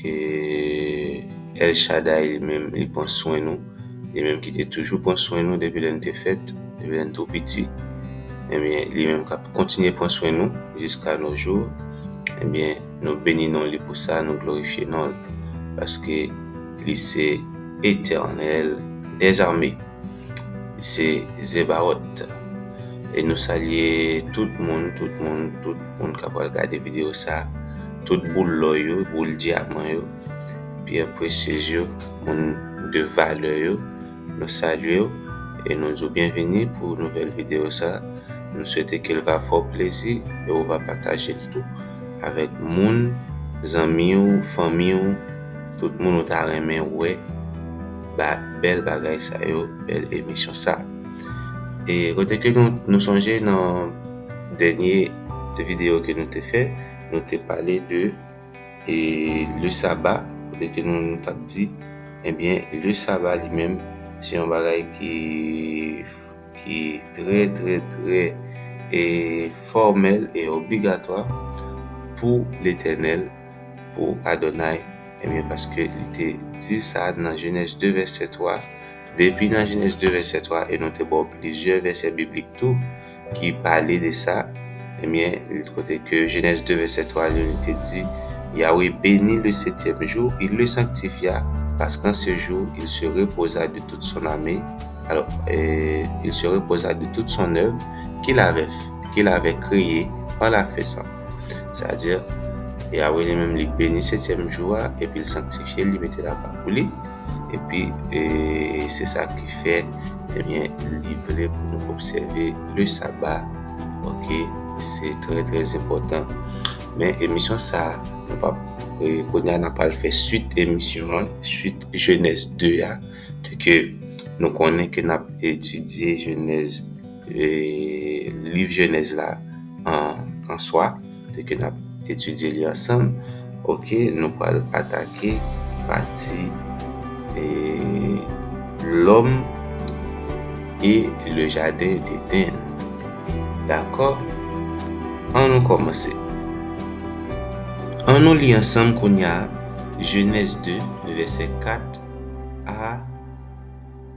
Ke El Shaddai li menm li pran swen nou, li menm ki te toujou pran swen nou depi lè nou te fèt, depi lè nou tou piti, ebyen eh li menm kap kontinye pran swen nou jiska no jou, ebyen eh nou beni non li pou sa, nou glorifye non l, paske li se Etènèl dèzame. se Zebaot e nou salye tout moun tout moun tout moun kap pral gade video sa tout boul lò yo boul dyaman yo pyè presyez yo moun de valè yo nou salyew e nou diw byenvini pou nouvèl video sa nou swete kel va fè w plezi e ou va patajel tou avèk moun zanmiw fanmiw tout moun ou ta renmen wè. ba bèl bagay sa yo, bèl emisyon sa. E kote ke nou, nou sonje nan dènye video ke nou te fè, nou te pale de e le saba, kote ke nou nou tap di, ebyen eh le saba li menm, se yon bagay ki, ki trè trè trè e fòmèl e obligatwa pou Letènèl, pou Adonay, ebyen paske li te di sa nan Jenèz 2 vèsè 3, depi nan Jenèz 2 vèsè 3 e nou te ba w plizyè vèsè biblik tou ki pale de sa, ebyen kote ke Jenèz 2 vèsè 3 yo li te di, Yawe beni le setyèm jou, il le sanktifya, paske an se jou il se repoza de tout son ame, alò, il se repoza de tout son èv kil avè, kil avè kreye an la fezan. Sa di, Yawe li menm li beni setyèm jou a, epi l sanktifye l, li mete l apa pou li, epi se sa ki fè, ebyen, li vle pou nou obsève le saba, oke, se trè trè enpòtan. Men emisyon sa, nou pap, kounye a n ap al fè swit emisyon an, swit Jenèz 2 a, ke nou konnen ke n ap etidye Jenèz. Liv jenèz la an swa te ke nap etidye li ansanm ok nou pral atake pati e lòm e le jaden deden dakò an nou kòmanse an nou li ansanm kounya jenèz 2 vèsè 4 a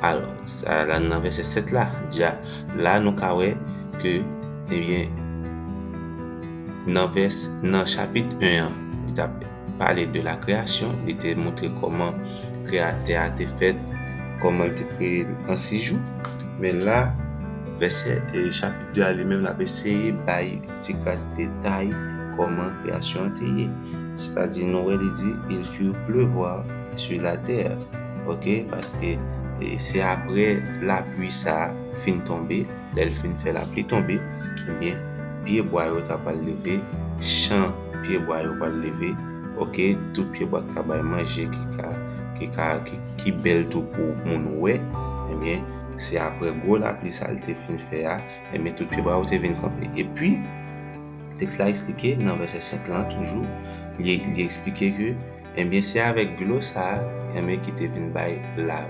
Alò, sa la nan vèsè 7 la, dja, la nou ka wè ke, ebyen, nan vès, nan chapit 1 an, li t ap pale de la kreyasyon, li te montre kòman kreyatè a te fèt, kòman l te kreye l an 6 jou, men la, vèsè, chapit 2 a li menm l ap eseye bay yon ti kras detay kòman kreyasyon an te ye, sètadi nou wè li di, il fit pleuvoir. sur la terre ok paske se apre lapli sa fin tonbe lèl fin fè lapli tonbe ebyen pye bwa yo ta pral leve chan pye bwa yo pral leve ok tout pye bwa ka bay manje ki ka ki ka ki bèl tou pou moun wè ebyen se apre gwo lapli sa li te fin fè a ebyen tout pye bwa yo te vin kanpe epi teks la esplike nan vèsè 5 lan toujou li esplike ke Enbyen se avèk dlo sa enbyen ki te vin bay la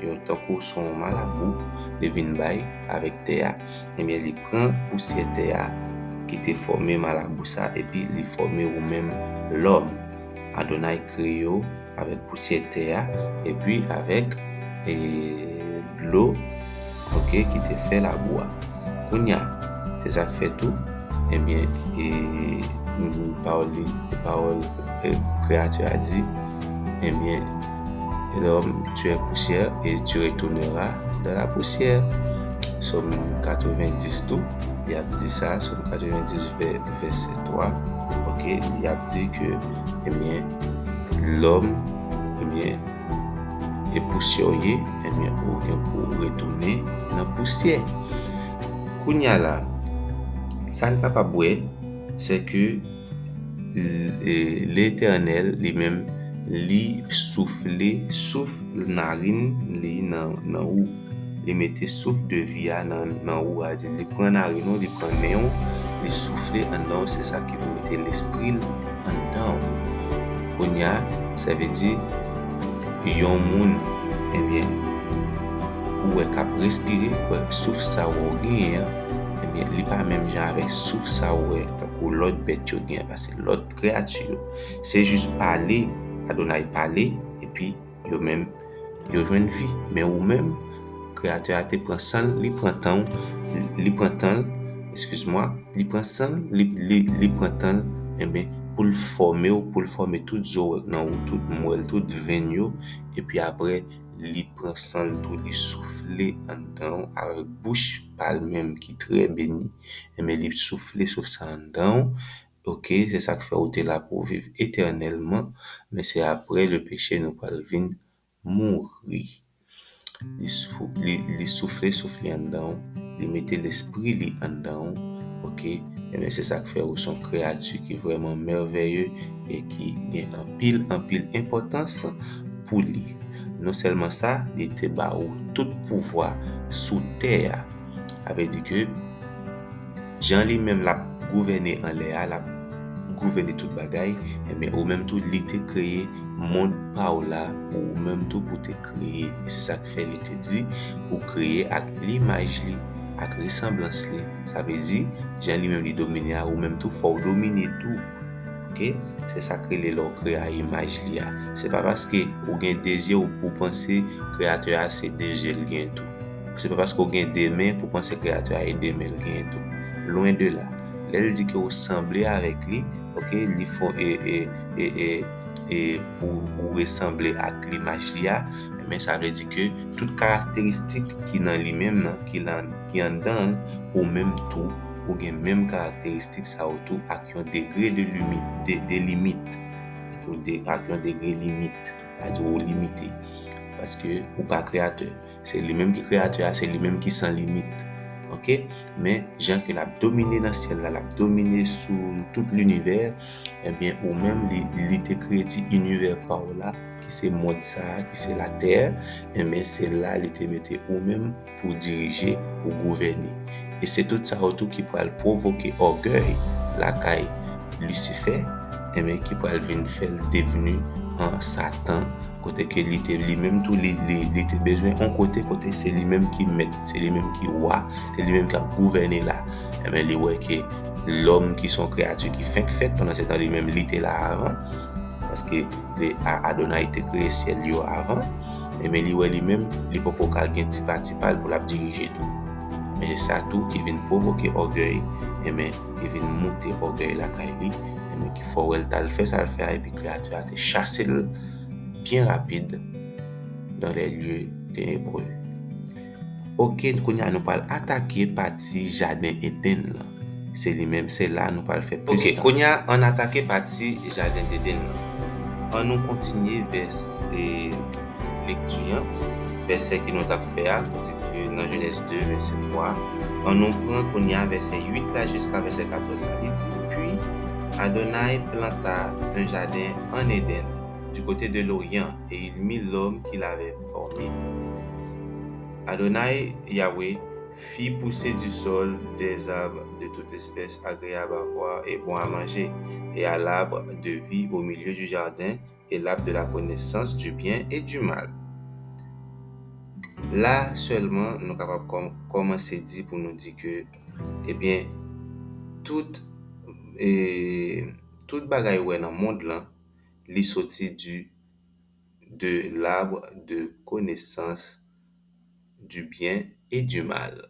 yon tankou son yon malabou li vin bay avèk tè a enbyen li pran pousyè tè a ki te fòme malabou sa epi li fòme ou menm lòm Adonay kreye w avèk pousyè tè a epi avèk e Dlo ok ki te fè labou a. Kounya se sak fè tou ebyen e pawòl li pawòl kreyati a di ebyen lòm tu è pousyè e tu retonera dan la pousyè som 90 tou li ap di sa som 90 vè vèsè 3 ok li ap di ke ebyen lòm ebyen E pousyè w ye, enben ou gen pou w retounen nan pousyè. Kounye a la, sa n kapab wè, se ke Letènèl li menm li soufle souf narinn li nan ou. li mete souf de vi a nan nan ou a di li pran narine ou li pran nen ou li soufle anndan ou se sa ki pou mete lespri l anndan ou kounya sa vle di yon moun ebyen ou wè kap respire souf sa ou wè ou genyen an ebyen li pa menm jan avèk souf sa ou wè tankou lòt bèt yo genyen pase lòt kreyati yo se jis pale Adonay pale epi Yo menm, yo jwenn vi. Men ou menm, Kreyatè a te pran san l, li pran tan w, li pran tan l, eskizmwa, li pran san l, li, li, li pran tan l, enben, pou l fòme w, pou l fòme tout zo w nan ou, tout mwèl, tout venn yo, epi apre, li pran san l tou, li soufle anndan w avèk bouch pa l menm ki trè beni, enben, li soufle sou sa anndan w, Ok se sak fè ou te la pou w viv etènèlman men se aprè le peche nou pral vin mouri li soufle souf li anndan w li mete lespri li anndan w ok ebyen se sak fè ou son kreyati ki vrèman mèvèye e ki gen anpil anpil enpòtans pou li non sèlman sa li te ba ou tout pouvwa sou tè a sa vle di ke Jan li menm lap gouvène anlè a, lap gouvène tout bagay, enben ou menm tou li te kreye mond pa ou la pou ou menm tou pou te kreye. E se sa k fè li te di, ou kreye ak limaj li, ak resanblans li. Sa vle di, jan li menm li domine a, ou menm tou fò w domine tou. Oke, se sa k rele lè w kreye a imaj li a. Se pa paske ou gen de zye ou pou w panse kreyatè a se de zye l gen tou. Se pa paske w gen de men pou w panse Kreyatè a e de men l genyen tou. Lwen de la. Lè l di ke ou sanble avèk li, oke, li fon e, e, e, e, e pou ou resanble ak limaj li a, enben sa vle di ke tout karakteristik ki nan li menm nan, ki la, ki anndan l, ou menm tou, ou gen menm karakteristik sa yo tou ak yon degre de limi, de, de limit, ou de, ak yon degre limit. Sa di ou limite. Paske ou pa kreyatè. Se li menm ki kreyatè a, se li menm ki san limit. Ok? Men, jan ke l ap domine nan syèl la, l ap domine sou tout linivè, ebyen ou menm li te kreye ti inivè pa ou la, ki se mond sa a, ki se latè, ebyen se la li te mete ou menm. pou dirije, pou gouvène. E se tout sa yo tou ki pral pwovoke ògèy lakay Lisifè, enben ki pral vin fè l devni an Satan, kote ke li te li menm tou li li te bezwen yon kote kote se li menm ki mèt, se li menm ki wa, se li menm k ap gouvène la. Enben li wè ke lòm ki se yon kreyati ki fenk fèt, pandansetan li menm li te la avan, paske Adonay te kreye syèl yo avan. e men li wè li menm li poko ka gen ti pati pal pou lap dirije tou men e sa tou ki vin pwovoke ògèy e men li vin moute ògèy lakay li e men ki fò wèl tal fè sal fè a epi kreyati a te chasel byen rapid dans les lieux ténébreux. Ok kounya nou pral atake pati jaden Eden lan se li menm se la nou pral fè plis tan. Ok kounya ann atake pati jaden deden lan an nou kontinye vès lekti an vèsè ke nou tap fè a kote ke nan jenèz 2 vèsè 3 an nou pran kounya vèsè 8 la jiska vèsè 14 la li di pi Adonay planta un jardin en Eden du cote de l'orient et il mit l'homme qu'il avait formé. Adonai, Yahweh, fit pousser du sol des arbres de toute espèce agréables à voir et bons à manger, et à l'arbre de vie au milieu du jardin, et l'arbre de la connaissance du bien et du mal. La sèlman nou kapab kòmanse di pou nou di ke ebyen tout tout bagay ou wè nan mond lan Li soti du de l'arbre de connaissance du bien et du mal.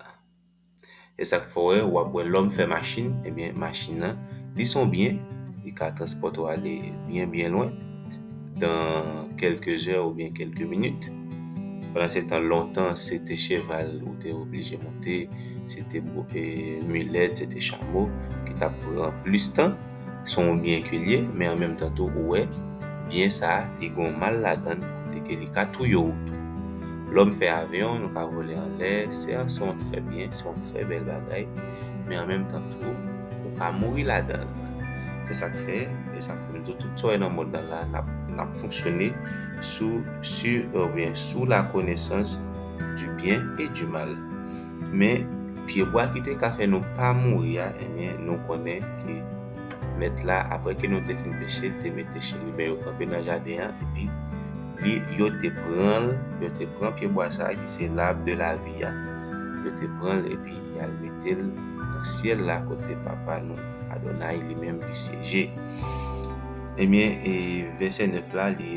E sak fè wè wap wè lòm fè machin ebyen machin nan li son byen li ka transpòte w ale byen byen lwen dan kelke zè oubyen kelke minit pandan se tan lontan se te cheval ou te oblije monte se te milèt se te chamo ki tap pran plis tan. Se yon byen ke l ye, men an menm tan tou ou wè, byen sa a, li gen yon mal ladan l kote ke li ka touye ou tou. Lòm fè avyon, nou ka vole anlè, se an se yon trè byen, se yon trè bèl bagay, men an menm tan tou, ou ka mouri ladan l. Se sa k fè, e sa fè m di w tout sa w wè nan mond lan la a, n ap fonksyone sou, sur oubyen sous la connaissance du bien et du mal. Men, pyebwa ki te ka fè nou pa mouri a, enben, nou konnen ke Mèt la, apre ke nou te fin peche, te mete cheriben yo kanpe nan jaden an, epi li, yo te pran l, yo te pran pyebwa sa a ki se Lab de Lavi a, yo te pran l epi y al mete l nan syèl la kote Papa nou, Adonay, li menm li syeje. Enben, e vèsè 9 la, li.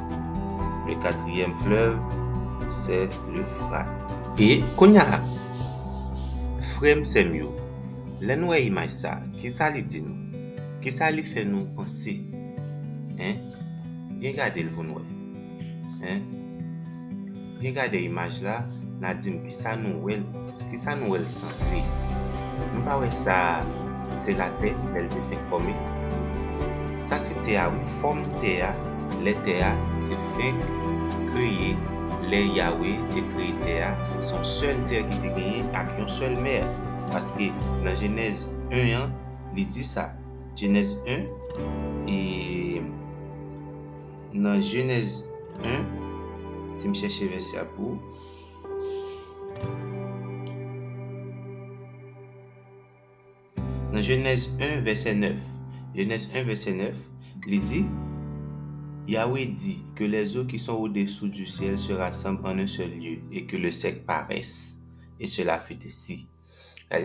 Le katriyèm flèv se le frat. E kounya, frè m sè m yo, lè n wè imaj sa, kisa li di nou? Kisa li fè nou panse? Hein? Byen gade l pou n wè. Hein? Byen gade imaj la, na dim kisa nou wèl kisa nou wèl sanble? Nou pa wè sa se la tè lèl te fenk fòme? Sa se tè a wi fòm tè a lè tè a te fenk kreye lè Yawe te kreye tè a son sèl tè ki te genyen ak yon sèl mè paske nan jenèz 1 an li di sa jenèz 1 e Nan Jenèz 1, ke m chèche vèsè a pou ou. Nan Jenèz 1 vèsè 9, Jenèz 1 vèsè 9, li di, Yawe di, Ke lèzo ki son odesou di syèl se rasanb an en sèl lye, e ke le sèk parès. E sela fit ensi.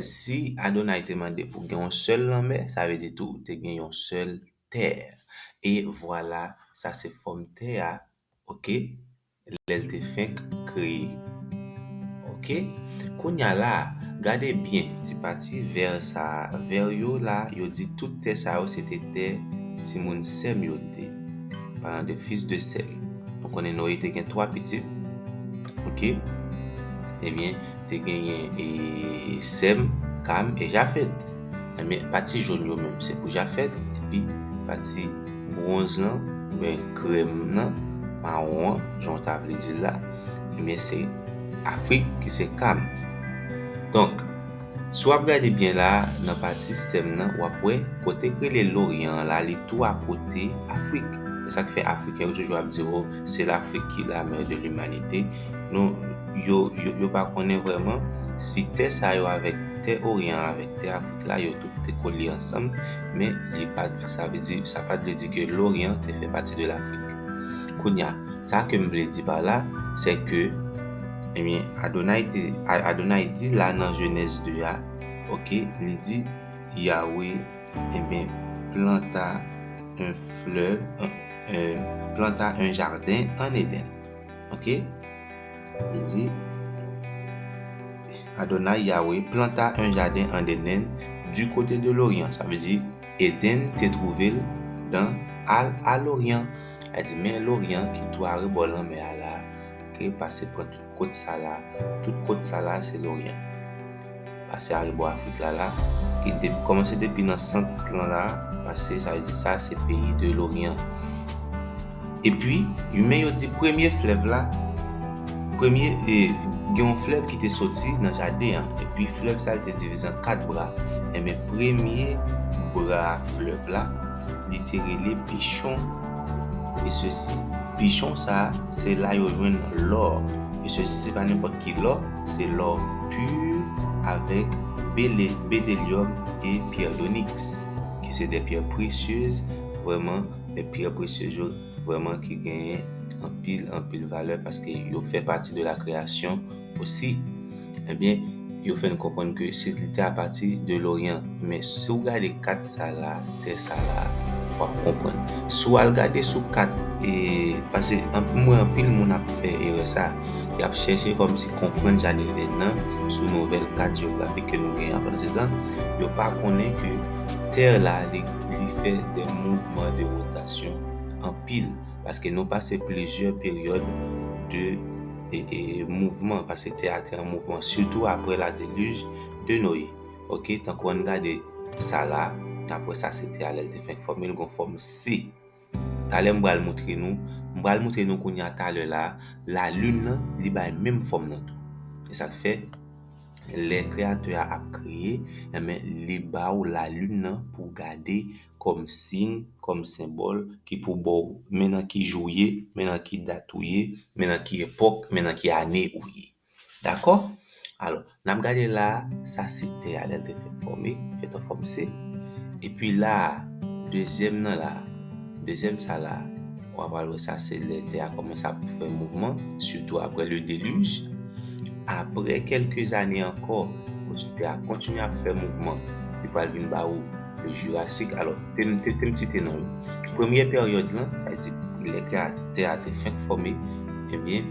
Si Adonay te mande pou gen yon sèl lanmè, sa vle di tou te gen yon sèl. terre e vwala sa se fòm tè a ok lè l te fenk kreye ok kounya la gade byen ti pati vè sa vè yo la yo di tout tè sa yo se te tè timoun sè m yo l te palan de fis de sè m nou konnen Noye te gen 3 pitit ok ebyen te genyen e sè m Kam e Jafèt. Ebyen pati jaune yo menm se pou jafet epi pati bronze lan oubyen krem lan maron an jan w ta vle di l la ebyen se afrik ki se kam donk si wap gade byen la nan pati sèm lan wap wè kote k rele loryan an la li tou akote afrik se sak fè afriken yo toujou ap di w se lafrik ki la mè de limanite Nou, yo, yo pa konnen vrèman si tè sa yo avèk tè Oryan an avèk tè Afrik la yo tout te kolye ansanm, men li pa t, sa vle di, sa pa t vle di ke Loryan te fè pati de Lafrik. Kounye a, sa ke m vle di pa la, sè ke, ebyen, Adonay te, Adonay di la nan Jenèz 2 a, oke, li di, Yawe, ebyen, planta un fleuve, planta un jardin en Eden. Ok Li di Adonay, Yawe, planta un jaden an Eden du kote de l'Orient. Sa vle di Eden te twouve l dan al a l'Orient. A di men l'Orient ki tou arebò lanmè a la, ke pase pran tout kot sa la. Tout kot sa la se l'Orient. pase arebò Afrik la la, ki dep kòmanse depi nan sant lan la, pase sa vle di sa se peyi de loryan. Epi, men yo di premye flèv la, premye e gen yon flèv ki te soti nan jaden an, epi flèv sa li te divize an kat bra, enben premye bra flèv la li te rele Pichon e sesi, Pichon sa se la yo jwenn lò e sesi se pa nenpòt ki lò. se lò pur avèk bedelyòm e pyè doniks ki se de pyè presyez vrèman e pyè presyez yo vrèman ki genyen anpil anpil valè paske yo fè pati de la kreyasyon osi ebyen yo fè n konprann ke se li te apati de loryan men si w gade kat sa la Tè sa la wap konprann. Si w al gade sou kat e pase m wè anpil moun ap fè erè sa. Yap chèche kòmsi konprann Janilden nan sou nouvèl kat jeyografik ke nou genyen an pandansetan yo pa konnen ke tè la li fè de mouvman de rotasyon anpil paske nou pase plizyè peryòd de e mouvman paske tè a te an mouvman sitou aprè ladelij de Noye. Ok tankou ann gade sa la nap wè sa se te a lèl te fè fòm yo li gon fòm C talè m pral moutre nou m pral moutre nou kounya talè la la lune nan li bay menm fòm nan tou se sak fè lè kreyatè a ap kreye enben li ba ou la lune nan pou w gade kòm siy kòm senbòl ki pou ba w men nan ki jou w ye men nan ki dat ou ye men nan ki epòk men nan ki ane ou ye. Dakò? Alò, n ap gade la a, sa se tè a lè l te fèk fòme, fèt an fòm se. Epi la a, dezyèm nan la a, dezyèm sa la a, ou apral wè sa se lè tè a kòmanse ap fè mouvman, sitou apre ledelij. Apre kèlke zane ankò, kote tè a kontinye ap fè mouvman, li pral vin ba ou lejirasik. Alò, te m te m site non yo. Premye peryòd lan, sa vle di lè tè a te fèk fòme, ebyen,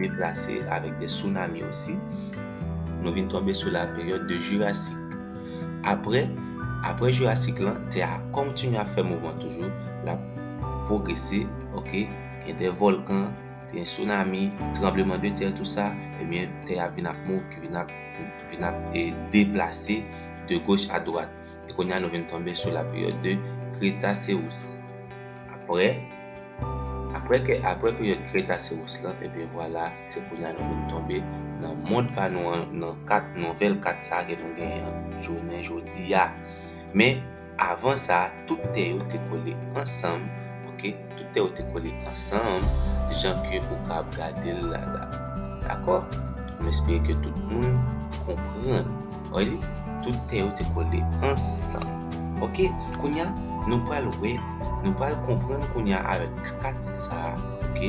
deplase avèk de sounami osi, nou vin tonbe sou la peryòd de jurasik. Aprè, aprè jurasik lan, tè a kontinye ap fè mouvman toujou, l ap pwogrese, ok, gen de vòlkan, gen sounami, tranbleman de tè tou sa, ebyen tè a vin ap move, ki vin ap, vin ap e deplase de goch a dwat. E kounye a nou vin tonbe sou la peryòd de kretase ou. Aprè. Aprè ke aprè peryòd Kretacewous lan ebyen vwala se kounye a nou vin tonbe nan mond pa nou an nan kat nouvèl kat sa ke nou genyen an jounen jodi a men avan sa tout tè yo te kole ansanm ok tout tè yo te kole ansanm jan ke ou ka ap gade l la la dakò m espere ke tout moun konprann. Wè li? Tout tè yo te kole ansanm. Ok, kounya nou pral wè, nou pral konprann kounya avèk pati sa a, ok,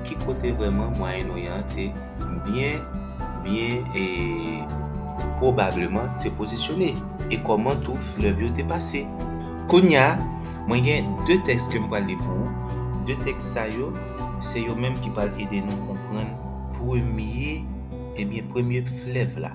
ki kote vrèman Mwayen Oryan an te byen, byen e pwobableman te pozisyone, e kòman tou flèv yo te pase. Kounya, mwen gen de tèks ke m pral li pou ou, de tèks sa yo, se yo menm ki pral ede nou konprann premye, ebyen premye flèv la.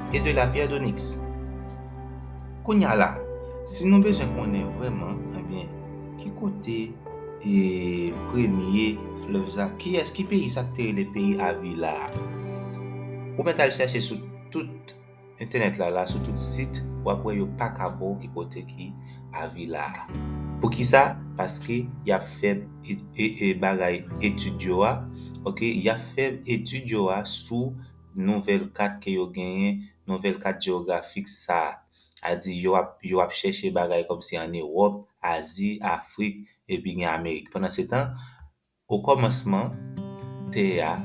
et de la pierre d'onyx. Kounya la, si nou bezwen konnen vrèman, ebyen, ki kote e premye fleuve sa, kiyès, ki peyi sa ki te rele peyi Avila a? Ou mèt al chèche sou tout entènèt la la, sou tout sit, w ap wè yo pa ka ba w ki kote ki Avila a. Poukisa? Paske y ap fè bagay etid yo a, ok, y ap fè etid yo a sou nouvèl kat ke yo genyen, nouvèl kat jewografik sa a. A di yo ap yo ap chèche bagay kòmsi an Ewòp, Azi, Afrik epi gen Amerik. Pandansetan, okòmansman, tè a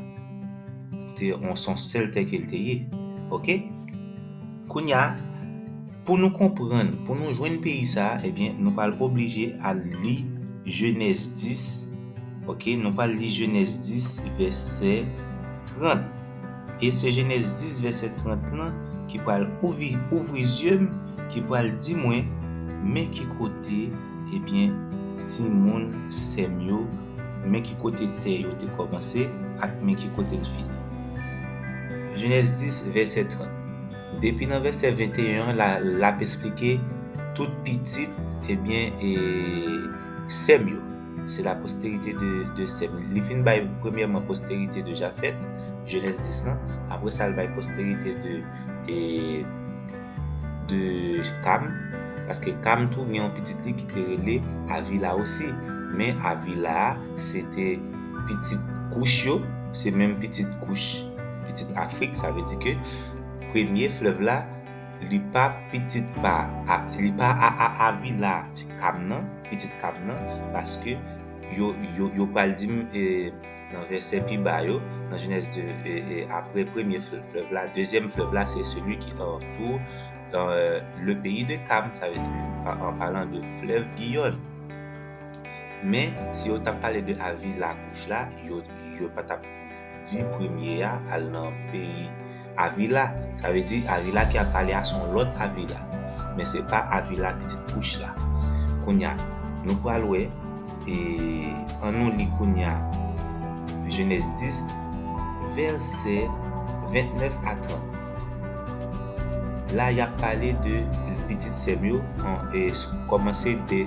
te yon sèl tè ke l te ye. Oke? Kounye a. Pou nou konprann, pou nou jwenn peyi sa a, ebyen, nou pral oblije al li Jenèz 10, ok, nou pral li Jenèz 10 vèsè 30. E se Jenèz 10 vèsè 30 lan ki pral ouvri zye m, ki pral di mwen, men ki kote, ebyen, timoun sè m yo, men ki kote tè yo te kòmanse ak men ki kote l fini. Jenèz 10 vèsè 30. Depi nan vèsè 21 an la lap esplike tout pitit ebyen e Sèm yo se la posterite de Sèm li fin bay premyèman posterite de Jafèt jenès 10 lan aprè sa li bay posterite de e de Kam paske Kam tou gen yon pitit li kite rele Avila osi men Avila a se te pitit Kouch yo se menm pitit Kouch pitit Afrik sa vle di ke premye flèv la li pa pitit pa a li pa a a avila kam nan pitit kam nan paske yo yo yo pral di m e nan vèsè pi ba yo nan jenèz 2 e e apre premye flèv la dezyèm flèv la se seli ki an tou an e le peyi de kam sa vle di an an palan de flèv giyòn men si yo tap pale de avila kouch la yo yo pa tap di premye a al nan peyi Avila, sa vle di Avila ki ap pale a se yon lòt Avila, men se pa Avila pitit Kouch la. Kounye a, nou pral wè, e an nou li kounye a Jenèz 10, vèsè 29 a 30. La y ap pale de pitit sè m yo, kòmanse de.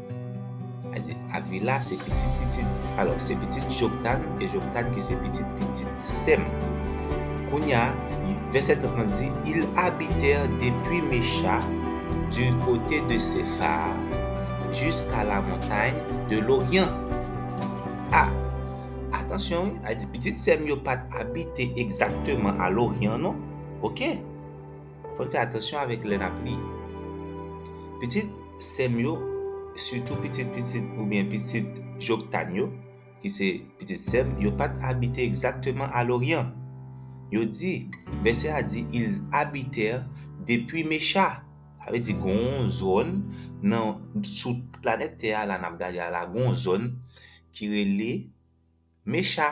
Adi, Avila se pitit pitit, alò, se pitit Joktan, e Joktan ki se pitit pitit Sèm. Kounye a, vèsè 30 lan di, Ils habitèrent depuis Mecha, du cote de Sephar, jusqu'à la montagne de l'Orient. A, atansyon wi, Adi, pitit Sèm yo pa t abite egzakteman a Loryan non, oke. Fòn fè atansyon avèk lè nap li. Pitit sèm yo sitou pitit pitit oubyen pitit Joktan yo ki se pitit sèm yo pat abite egzakteman a Loryan. Yo di, vèsè a di ils habitèrent depuis Mecha. Sa vle di gon yon zòn nan sou planèt tè a la nap gade a la gon yon zòn ki rele Mecha.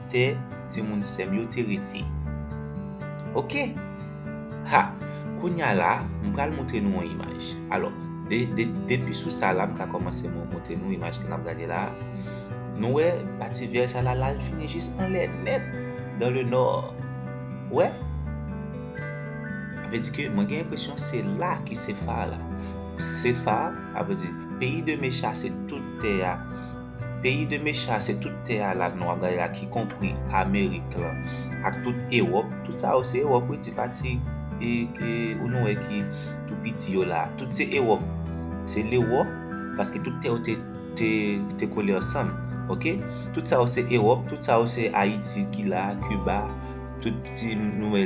tè timoun sèm yo te rete ok ha kounya la m pral moutre nou yon imaj alò depi sou sa la m ka kòmanse mwen moutre nou imaj ke nap gade la nou wè pati vè sa la lal fini jis anlè nèt dan le nò ou wè sa vle di ke mwen gen enpresyon se la ki se fa la se fa sa vle di peyi de mecha se tout tè a Peyi de mecha se tout tè a la nwa gaye a ki konpri amerik lan ak tout ewop tout sa yo se ewop wi ti pati ou nou wè ki tou piti yo la tout se ewop se lewop paske tout tè yo te kole ansanm ok tout sa yo se ewop tout sa yo se ayiti ki la kiba tout ti nou wè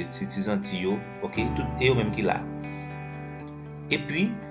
ti zanti yo ok tout e yo menm ki la epi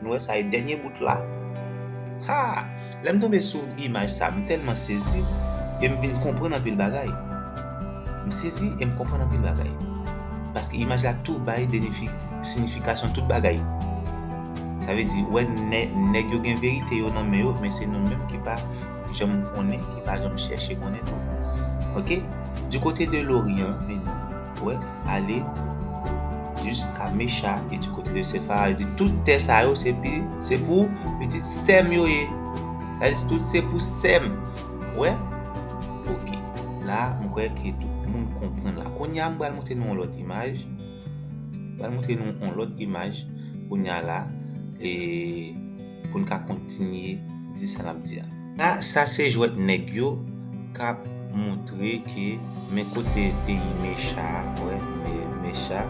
Nou wè sa e dènye bout la. Haa! Lè m tonbe sou imaj sa, m tèlman sezi e m vin konprann anpil bagay. M sezi e m konprann anpil bagay. Paske imaj la tou bay sinifikasyon tout bagay. Sa vle di, wè nèg yo gen verite yo nan men yo, men se nou menm ki pa janm konnen, ki pa janm chèche konnen tou. Ok? Du côté de l'Orient, vin wè. ale jis a Mecha e di kote de Sefara, li di, Tout tè sa yo se pi, se pou pitit sè m yo ye. Sa vle di tout se pou sè m. Ou wè? Ok. La a, m kwè ke tout moun konprann la. Kounye a, m pral montre nou yon lòt imaj. M pral montre nou yon lòt imaj kounye a la a. E. pou n ka kontinye di sa n ap di a. Sa se jwèt nèg yo k ap moutre ke men kote peyi mecha wè mecha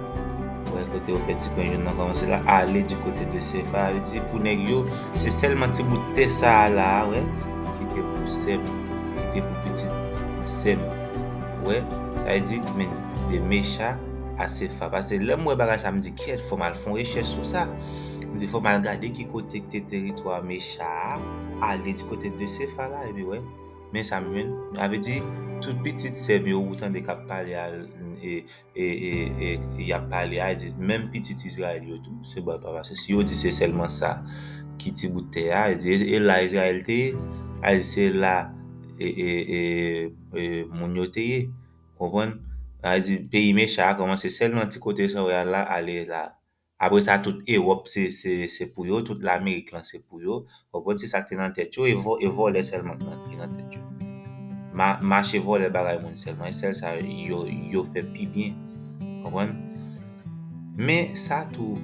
wè kote yo fè ti penyen nan kòmanse la ale di kote de sefa yo di pou nèg yo se sèlman ti bout tè sa a la a wè ki te pou sè m ki te pou pitit sè m wè sa vle di men de mecha a sefa pase lè m wè bagay sa a m di kyèt fò m al fè yon rechèch sou sa. Di fòm al gade ki kote k te teritwa Mecha a, ale di kote de Sefa la, epi wè. Men sa m jwenn. Sa vle di, tout pitit sè m yo ou tande k ap pale a, y ap pale a, di menm pitit Izrayèl yo tou, se bon epa pase. Si yo di se sèlman sa ki ti bout tè a, di e la Izrayèl te ye, a di se la moun yo te ye. Konprann? A di peyi Mecha a kòmanse sèlman ti kote sa w wè a la, ale la. Apre sa tout Ewòp se pou yo, tout Lamerik lan se pou yo. Ou konprann? Se sa k te nan tèt yo. E vòlè sèlman ki nan tèt yo. Mache vòlè bagay moun sèlman. E sèl sa yo fè pi byen. Ou konprann? Men sa tou,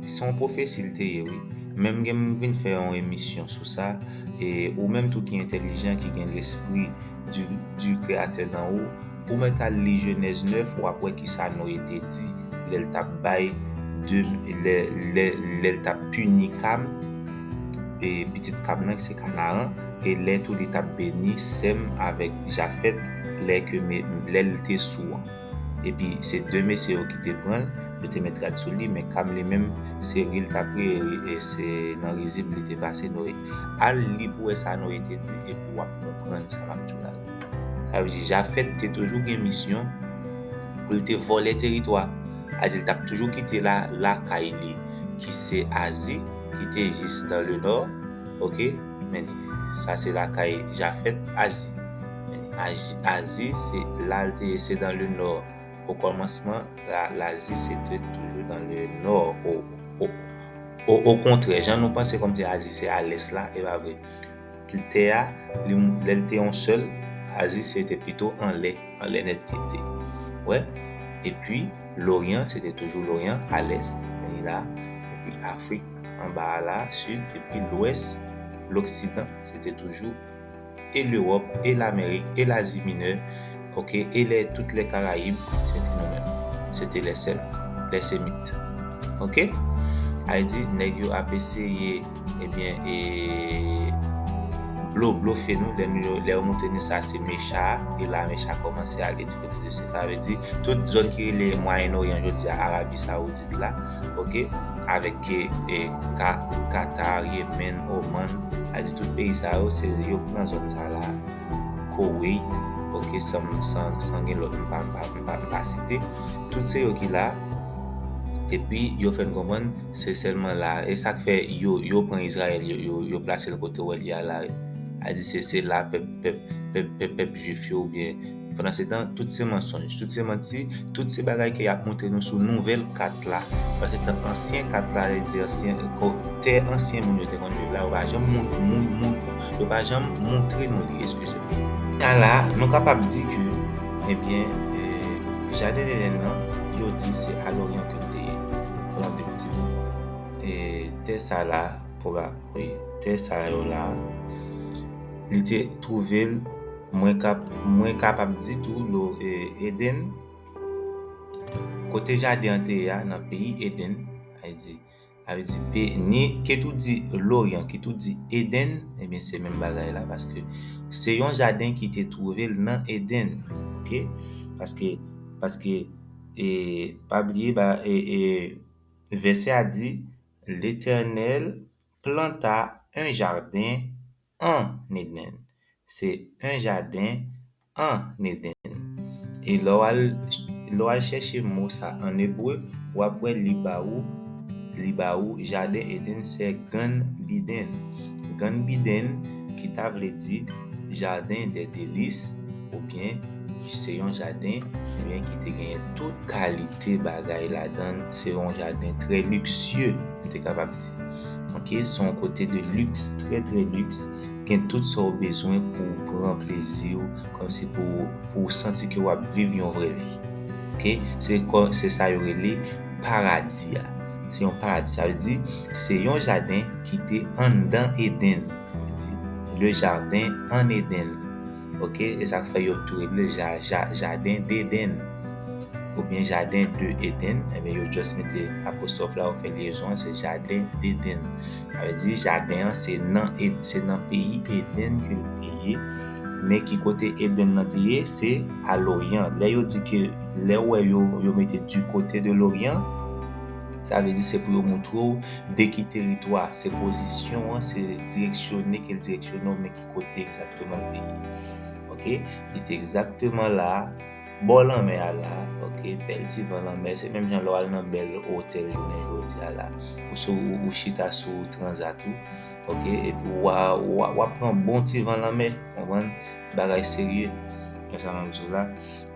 se yon pwofesi l te ye wi. Men m vin fè yon emisyon sou sa. E ou menm tou ki entèlijan, ki gen lespri. du Créateur nan ou, ou mèt al li Jenèz 9 wap wè kisa Noye te di lè l tap bay lè l tap pini Kam e pitit Kam nan ki se Kanaran e lè tou li tap beni Sèm avèk Jafèt lè l te sou an. epi se 2 mesye yo kite pranl yo te met rad sou li men Cam li menm se ri l tap ri e se nan rizib li te pase Noé al li pou wè sa Noé te di epi wap konprann sa map diw la sa vle di Jafet te toujou gen misyon pou l te vòlè teritwa Azi li tap toujou kite la lakay li ki se Azi ki te jis nan le nò ok. Men ni, sa se lakay Jafèt, Azi. Men ni, Azi, Azi, se la l te ye, se dan le nò. Okòmansman, la, Lazi, se te toujou dan le nò. O, o, o, okontrè, jan nou panse kòmsi Azi se alès la, e pa vre. L, tè a, li m, lè l te yon sèl, Azi se te pito anlè, anlè nèt li te. Ou wè? Epi, Loryan, se te toujou Loryan, alès, men ni la, epi Afrik. Anba a la, Sid epi Lwès, Loksidan, se te toujou e Lewòp, e Lamerik, e Lazi Minè, ok, e lè tout lè Karayib, se te nou menm. Se te lè sèl. Lè Semit. Ok? Ay di, nèg yo ap eseye, ebyen, e, blo, blofe nou, lè nou, lè yo montre nou sa se mecha a, e la mecha kòmanse ale di kote de se. Sa vle di, tout zòn ki rele Mwayen Oryan jodi a, Arabi Sawoudit, Asid la ok avèk e ka Qatar Yemen Oman a di tout peyi sa yo se yo ki nan zòn sa la Koweit ok san san san gen lòt m pa m pa m pa m pa site tout se yo ki la epi yo fè n konprann se sèlman la e sa k fè yo yo pran Izrayèl yo yo yo plase l kote wè l ya la a di se se la pèp pèp pèp pèp pèp jwif yo oubyen Pandansetan, tout se mansonj, tout se manti, tout se bagay ke yap montre nou sou nouvèl kat la. Pandansetan, ansyen kat la, vle di ansyen, tè ansyen moun yo te konn viv la, yo pa janm moun, yo pa janm montre nou li, eskize m. Ka la, nou kapab di ke, ebyen, Jaden Eden nan, yo di se a Loryan ke l te ye. Donk efektivman, e tè sa la, pwoba, wi, tè sa yo la, li te twouve l. Mwen kap mwen kapab di tou lo e Eden kote jaden an te ye a nan peyi Eden a di a vle di pe ni ke tou di loryan ki tou di Eden ebyen se menm bagay la paske se yon jaden ki te twouve l nan Eden ok paske paske e pa bliye ba e e vèsè a di letènèl planta un jardin an Eden. Se yon jaden an Eden. E lè w al, lè w al chèche mo sa a an ebre, w ap wè li ba ou, li ba ou jaden Eden se Gan Biden. Gan Biden ki ta vle di jaden dè delis. oubyen ki se yon jaden oubyen ki te genyen tout kalite bagay ladan l, se yon jaden trè liksye nou te kapab di ok se yon kote de liks trè trè liks gen tout sa w bezwen pou w pran plezi w kòmsi pou pou w santi ke w ap viv yon vrè vi ok se kò se sa yo rele paradi a se yon paradi sa vle di se yon jaden ki te anndan Eden le jardin en Eden. ok e sak fè yo tou rele ja ja jaden deden ou byen jaden de eden ebyen yo just mete apostwòf la yo fè lyezon an se jaden deden sa vle di jaden an se nan eden se nan peyi eden ke li te ye men ki kote eden nan te ye se a loryan lè yo di ke lè ou wè yo yo mete di kote de loryan sa vle di se pou yo moutre ou de ki teritwa se pozisyon an se direksyone ke l direksyone w men Kote egzakteman li te ye? Ok, li te egzakteman la, bò lanmè a la, ok, bèl ti van lanmè, se menm jan lè w al nan bèl otèl jounen jodi a la, ou sou, ou chita sou transat ou, ok, epi w a, w ap pran bon ti van lanmè, konprann, bagay serye, wè sa m ap di w la,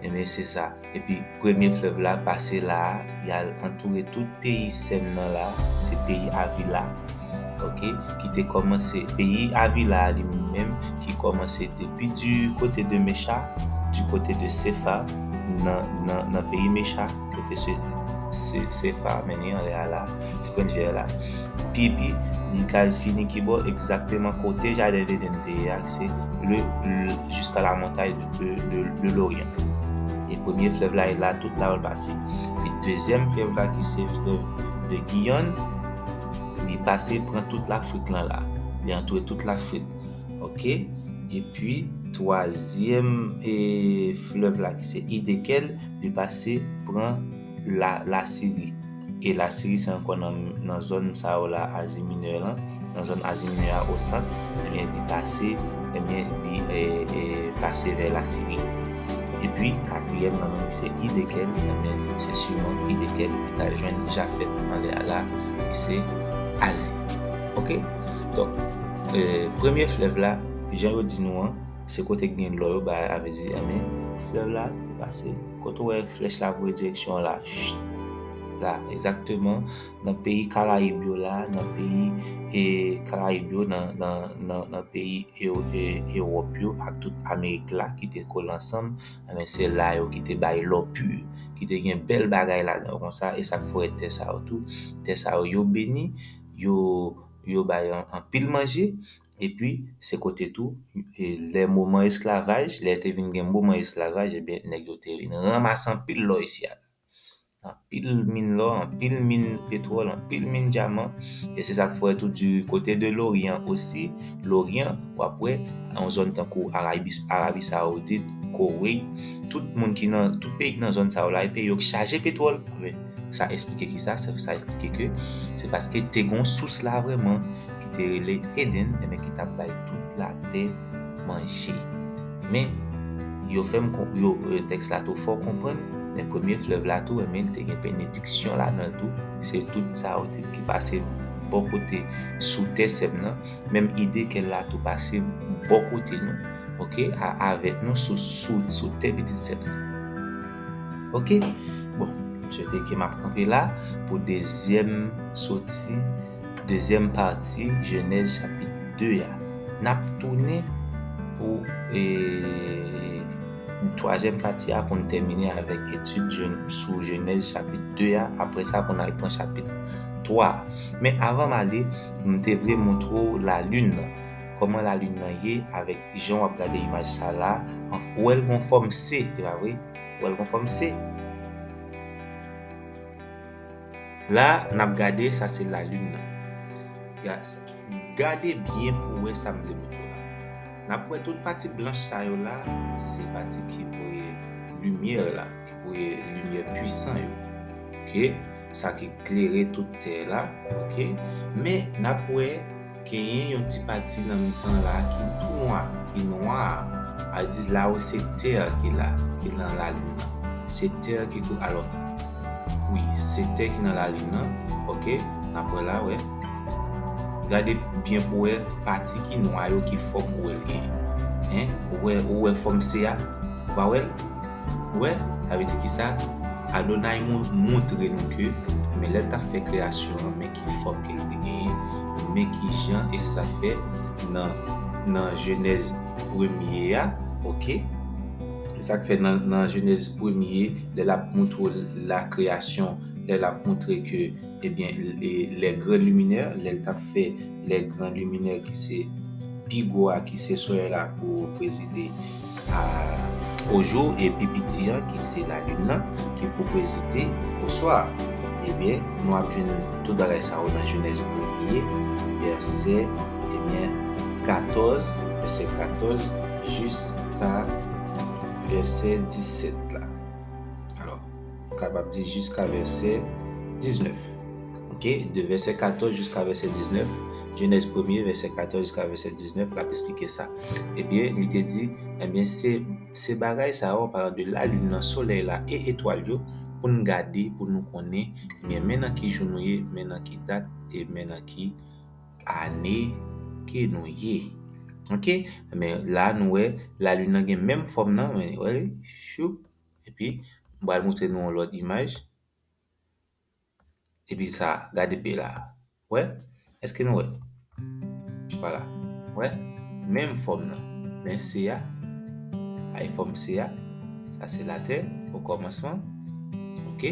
enben se sa. Epi premye flèv la pase la a, y al antoure tout peyi Sèn nan la a, se peyi Avila a. Ok, ki te kòmanse, peyi Avila a li menm ki kòmanse depi di kote de Mecha, di kote de Sefa, nan, nan, nan peyi Mecha, kote se, se, Sefa a mennen anlè a la a, ti pwent vè la a. Pi, epi li t al fini kibò? Egzakteman kote jaden Edèn te ye a, ki se le, le, jiska lamontay. de Loryan. E premye flèv la e la tout la wèl pase. Pi dezyèm flèv la ki se flèv de Giyon, li pase pran tout Lafrik lan la. Li antoure tout Lafrik. Ok? E pi, twazyèm flèv la ki se Idekèl, li pase pran. la Lasiri. E Lasiri se ankò nan nan zòn sa yo la Azi Minè lan, nan zòn Azi Minè a o sant, ebyen li pase ebyen li e pase vè Lasiri. Epi katriyèm nan menm se Idekèl, ebyen se siman Idekèl li pral jwenn Jafèt anlè a la ki se Azi. Ok, donk e premye flèv la jan yo di nou an se kote ki gen lò yo ba avè di ebyen flèv la te pase. Kote ou wè flèch la voye direksyon an la? La, egzakteman nan peyi Karayib yo la, nan peyi Karayib yo, nan peyi Ewòp yo ak tout Amerik la ki te kole ansanm, enben se la yo ki te bay lò pur, ki te gen bèl bagay ladan yo konsa. E sa k fè ou wè tè sa yo tou, tè sa yo, yo beni, yo bay anpil manje. Epi, se kote tou, lè moman esklavaj, lè te vin gen moman esklavaj, ebyen nèg yo te vin ranmase anpil lò isi a. Anpil min lò, anpil min petwòl, anpil min dyaman. E se sa k fè tou di kote de loryan osi, loryan, w ap wè yon zòn tankou Arayis, Arabi Sawoudit, Koweit, tout moun ki nan, tout peyi ki nan zòn sa yo la, e peyi yo ki chaje petwòl. Sa esplike ki sa? Sa esplike ke se paske te gen yon sous la vrèman. ki te rele Eden e men ki tap bay tout la tè manje. Men, yo fèm konprann, yo, tèks la tou fè w konprann, men premye flèv la tou e men li te gen benediksyon ladan l tou, se tout sa yo te, ki pase bò kote sou tè sè m nan, menm ide ke l la tou pase bò kote nou, ok, a, avèk nou sou, sou, sou tè pitit sè m nan. Ok, bon, m swete ke map kanpe la pou dezyèm soti. Dezyèm pati jenèz chapit 2 a. Nap tounen pou e twazyèm pati a pou n tèmine avèk etid sou jenèz chapit 2 a apre sa pou n al pran chapit 3 a. Men avan m ale m te vle montre w lalin nan. Kòman lalin nan ye avèk jan wap gade imaj sa la a. Ou wè l gon fòm se, se pa vre? Ou wè l gon fòm se? La nap gade sa se la lune nan. Gad sa. Gade byen pou wè sa m vle moutrew la. Nap wè tout pati blanch sa yo la se pati ki voye limyè la, ki voye limyè pwisan yo. Ok. Sa ki klere tout tè la. Ok. Men nap wè. Genyen yon ti pati nan mitan an la a ki tou nwa, ki nwa a, a di la ou se tè a ki la, ki nan lalin nan. Se tè a ki kou alò, wi, se tè ki nan lalin nan, oke, n ap wè la, wè. Gade byen pou wè pati ki nwa yo ki fòm ou wè l genyen. Hein, ou wè, ou wè fòm se a? Ou pa wè l? Ou wè, sa vle di ki sa? Adonay montre nou ke, men lè l t ap fè kreyasyon an, men ki fòm ke li te genyen, men ki jan, e se sa k fè nan Jenèz premye a, oke, se sa k fè nan Jenèz premye, lè l ap montre w lakreyasyon, lè l ap montre ke, ebyen, lè gran liminè, lè l t ap fè lè gran liminè ki se pi gwo a, ki se solèy la pou prezide, a ojou e pi piti an ki se lalin nan ki pou prezide oswa ebyen nou ap jwenn tout bagay sa yo nan jenèz premye vèsè ebyen 14 vèsè 14 jiska vèsè 17 la alò. Nou kapab di jiska vèsè 19. Ok, de vèsè 14 jiska vèsè 19, Jenèz premye, vèsè 14 jiska vèsè 19, l ap esplike sa. Ebyen, li te di, Ebyen, se, se bagay sa yo, an palan de lalin nan, solèy la e etwal yo, pou n gade, pou nou konnen, ebyen, men nan ki jou nou ye, men nan ki dat e men nan ki ane ke nou ye. Ok? Ebyen, la a nou wè, lalin nan gen menm fòm nan, wè, wè li? Choup! Epi, m pral montre nou yon lòt imaj. Epi sa, gade pye la a. Ou wè? Èske nou wè? Vwala. Ou wè? Menm fòm nan. Men se a. Bay fòm se a. Sa se latè, okòmansman. Ok?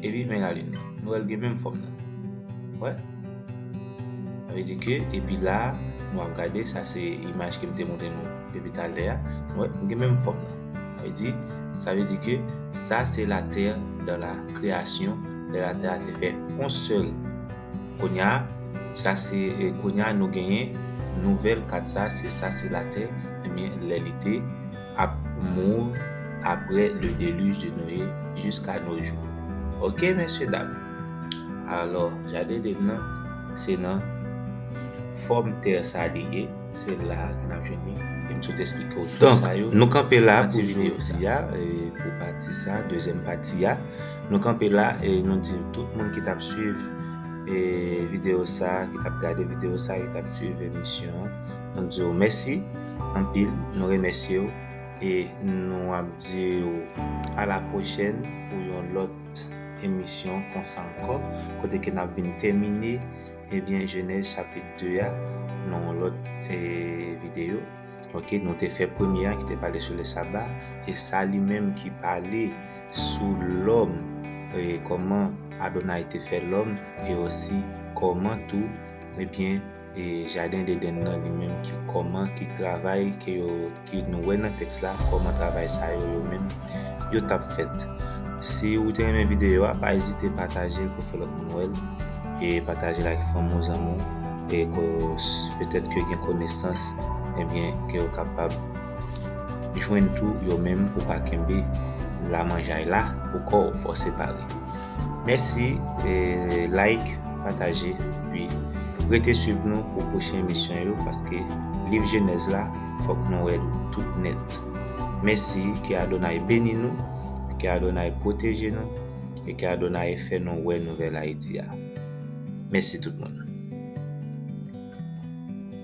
Epi men lalin nan. Nou wè l gen menm fòm nan. Ou wè? Sa vle di ke epi la a nou ap gade sa se imaj ke m te montre nou depi talè a, nou wè gen menm fòm nan. Sa vle di, sa vle di ke sa se latè dan la kreyasyon lè latè a te fè on sèl. Kounya a sa se kounya a nou genyen nouvèl kat sa se sa se latè ebyen lè li te ap move apre le deluge de Noe jiska no jou. Ok mesye dam. Alò, Jaden Edenn nan, se nan fòm tè sa li ye, se la ke n ap jwenn li, e m sot esplike w tout sa yo. Donk, nou kanpe la pou jodi a, pou pati sa, dezyèm pati a. Nou kanpe la e nou di tout moun ki t ap swiv videyo sa, ki t ap gade videyo sa, ki t ap swiv emisyon an, nou di yo mèsi anpil, nou remèsye w e nou ap di w alapwochèn pou yon lòt. lòt emisyon konsa ankò kote ke nap vin tèmine ebyen jenèz chapit 2 a nan yon lòt video ok nou te fè premye a ki te pale sou le saba e sa li menm ki pale sou lòm e kòman Adonay te fè lòm e osi kòman tou ebyen E jaden dedenn nan li menm ki kòman ki travay ke yo ki nou wè nan tèks la kòman travay sa yo yo menm yo tap fèt. Si ou te renmen videyo a pa ezite patajel pou fè lòt moun wèl e patajel ak fanmi w zanmi w e ke petèt ke gen konesans ebyen ke yo kapab jwenn tou yo menm pou pa kenbe lamanjay la pou kòw fòse pale. Mèsi like pataje epi rete swiv nou pou pwochen emisyon yo paske liv jenèz la fòk nou wèl tout nèt mèsi ke Adonay beni nou ke Adonay pwoteje nou e ke Adonay fè nou wè nouvèl Ayiti a mèsi tout moun.